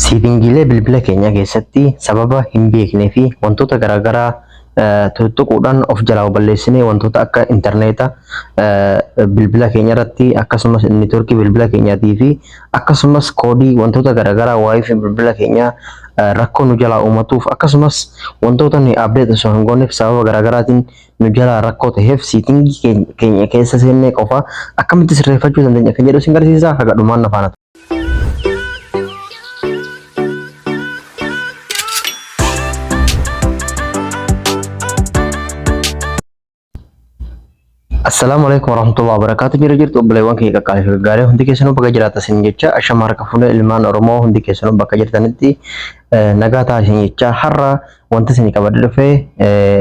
Siitingiilee bilbila keenyaa keessatti sababa hin beeknee fi wantoota garaagaraa tuttuquudhaan of jalaa balleessinee wantoota akka intarneeta bilbila keenya irratti akkasumas neetworkii bilbila keenyaatii fi akkasumas koodii wantoota garaagaraa waa'ee fi bilbila keenyaa rakkoo nu jalaa uumatuuf akkasumas wantoota nuyi abdeet osoo hin gooneef sababa garaagaraatiin nu jalaa rakkoo ta'eef siitingii keenya- keenya keessa seennee qofa akkamitti sirreeffachuu dandeenya kan jedhu sin garsiisa haga dhumaan na faana Assalaamu alaikum warahmatullahi wabarakatuh jira jirtu obboleewwan kiyya qaqqaalii fi gaggaarii hundi keessanuu bakka jiraatan sin jecha ashama harka fuune ilmaan oromoo hundi keessanuu bakka jirtanitti eh, nagaa taasisan jecha har'a wanti isin qabadde dhufe eh,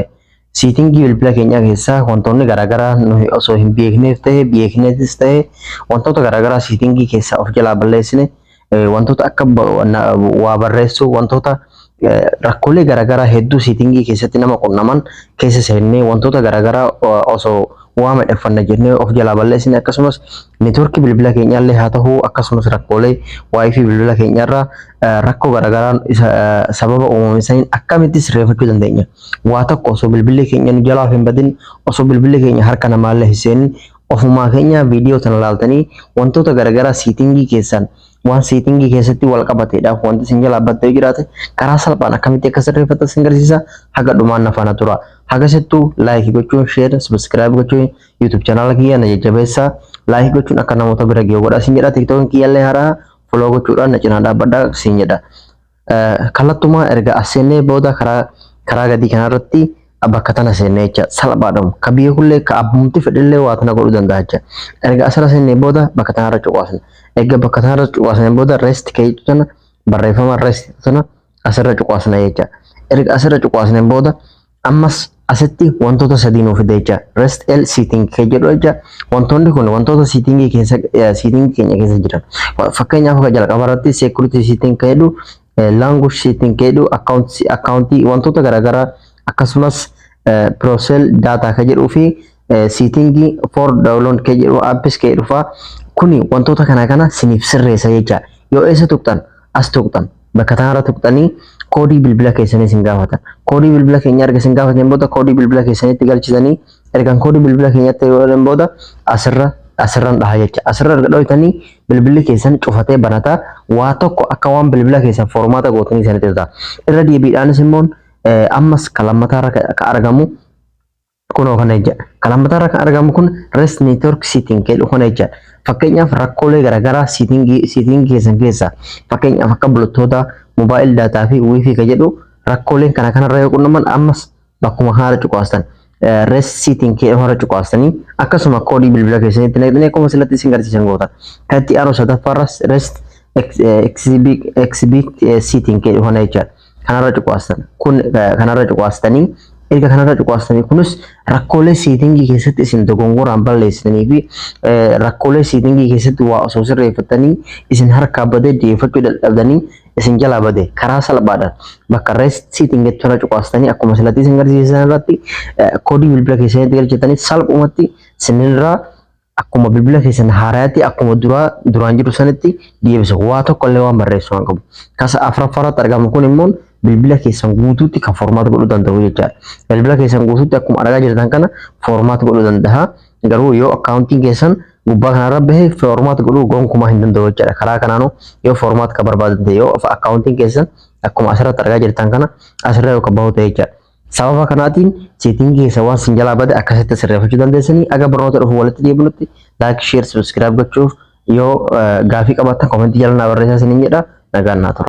Siitingii bilbila keenyaa keessaa wantoonni garaagaraa nuyi osoo hin beekneef ta'e beekneetis ta'e wantoota garaagaraa siitingii keessaa of jalaa balleessine eh, wantoota akka ba- na- waa barreessuu wantoota eh, rakkoolee garaagaraa hedduu siitingii keessatti nama qunnaman keessa seennee wantoota garaagaraa eh, osoo waa madheffanna jennee of jalaa balleessine akkasumas network bilbila keenyaallee haa ta'u akkasumas rakkoolee wifi bilbila keenyarraa eh, rakkoo garaagaraan isa eh, sababa uumame saniin akkamitti sirreeffachuu dandeenya waa tokko osoo bilbilli keenya nu jalaa of hin badin osoo bilbilli keenya harka namaallee hin seenin ofumaa keenya viidiyoo tana laaltanii wantoota garaagaraa siitingii keessan waan seetingii keessatti wal qabateedha. Wanti isin jalaa badda yoo jiraate karaa salphaan akkamitti akka sirreeffatan isin garsiisa haga dhumaan na faana tura. Haga sittuu laayikii gochuun sheer sabiskiraayib gochuun yuutuub chanaala kiyya na jajjabeessa. Laayikii gochuun akka namoota bira ga'u godha isin jedha. Tiktookiin kiyyallee haaraa foloo gochuudhaan na cinaa dhaabbadha isin jedha. Kallattumaa erga as seennee booda karaa karaa gadii kanarratti bakka tana seennee jecha salphaadhum ka biyya kullee ka abbumti fedhillee waa tana godhuu danda'a jecha erga asirra seennee booda bakka tanarra cuqaasna erga bakka tanarra cuqaasnee booda rest ka jechuu tana barreeffama rest tana asirra cuqaasna jecha erga asirra cuqaasnee booda Ammas asitti wantoota sadii nuuf fida jecha rest l sitting kee jedhu jecha wantoonni kun wantoota sittingii keessa sittingii keenya keessa jiran fakkeenyaaf akka jalqaba irratti security sitting kee jedhu language sitting kee jedhu account accountii wantoota garaagaraa akkasumas prosel data kee jedhuu fi siitingii for download kee jedhu apps kee dhufa kuni wantoota kana kana siniif sirreessa jecha yoo eessa tuqxan as tuqxan bakka tanarra tuqxanii koodii bilbila keessanii isin gaafatan koodii bilbila keenya erga isin gaafatan booda koodii bilbila keessanitti galchitanii ergan koodii bilbila keenyatti yoo godhan booda asirra asirran dhaha jecha asirra erga dhoytanii bilbilli keessan cufatee banataa waa tokko akka waan bilbila keessan formaata gootanii isanitti ta'a irra deebiidhaanis immoo ammas kan lammataa irra ka argamu Kunoo kana jechaadha. Kan hammataarra kan argamu kun rest network setting jedhu kana jechaadha. Fakkeenyaaf rakkoolee garaagaraa setting keessan keessaa fakkeenyaaf akka bultoota mobile data fi wifi ka jedhu rakkooleen kana kanarra yoo qunnaman ammas bakkuma kanarra cuqaastan rest setting jedhu kanarra cuqaastanii akkasuma koodii bilbila keessanitti naqxanii akkuma silatti isin garsiisan gootan. Kan itti aanu sadaffaarras rest XB setting jedhu kana jechaadha. kanarra cuqaastan kun kanarra cuqaastanii erga kanarra cuqaastanii kunis rakkoolee seetingii keessatti isin dogongoraan balleessitanii fi rakkoolee seetingii keessatti waa osoo sirreeffattanii isin harkaa badee deeffachuu dadhabdanii isin jalaa bade karaa salphaadhaan bakka rest seeting jettu irra cuqaastanii akkuma silatti isin garsiisan irratti koodii bilbila keessanitti galchitanii salphumatti sinirraa akkuma bilbila keessan haaraatti akkuma duraa duraan jiru sanitti deebisa waa tokko illee waan barreessu waan qabu kasa afraffaa irratti argamu kun immoo bilbila keessan guutuutti kan formaat godhuu danda'u jechaadha bilbila keessan guutuutti akkuma argaa jirtan kana formaat godhuu danda'a garuu yoo akkaawuntiin keessan gubbaa kanarra bahe formaat godhuu gonkumaa hin danda'u jechaadha karaa kanaanuu yoo formaat kan barbaadan ta'e yoo akkaawuntiin keessan akkuma asirratti argaa jirtan kana asirra yoo kan bahu ta'e jechaadha Sababa kanaatiin seetiin keessa waan sin jalaa bade akkasitti sirreeffachuu dandeessanii aga barnoota dhufu walitti deebinutti laayik sheer sabiskiraayib gochuuf yoo gaafii qabaattan komentii jala naa barreessaa sinin jedha nagaan naa tura.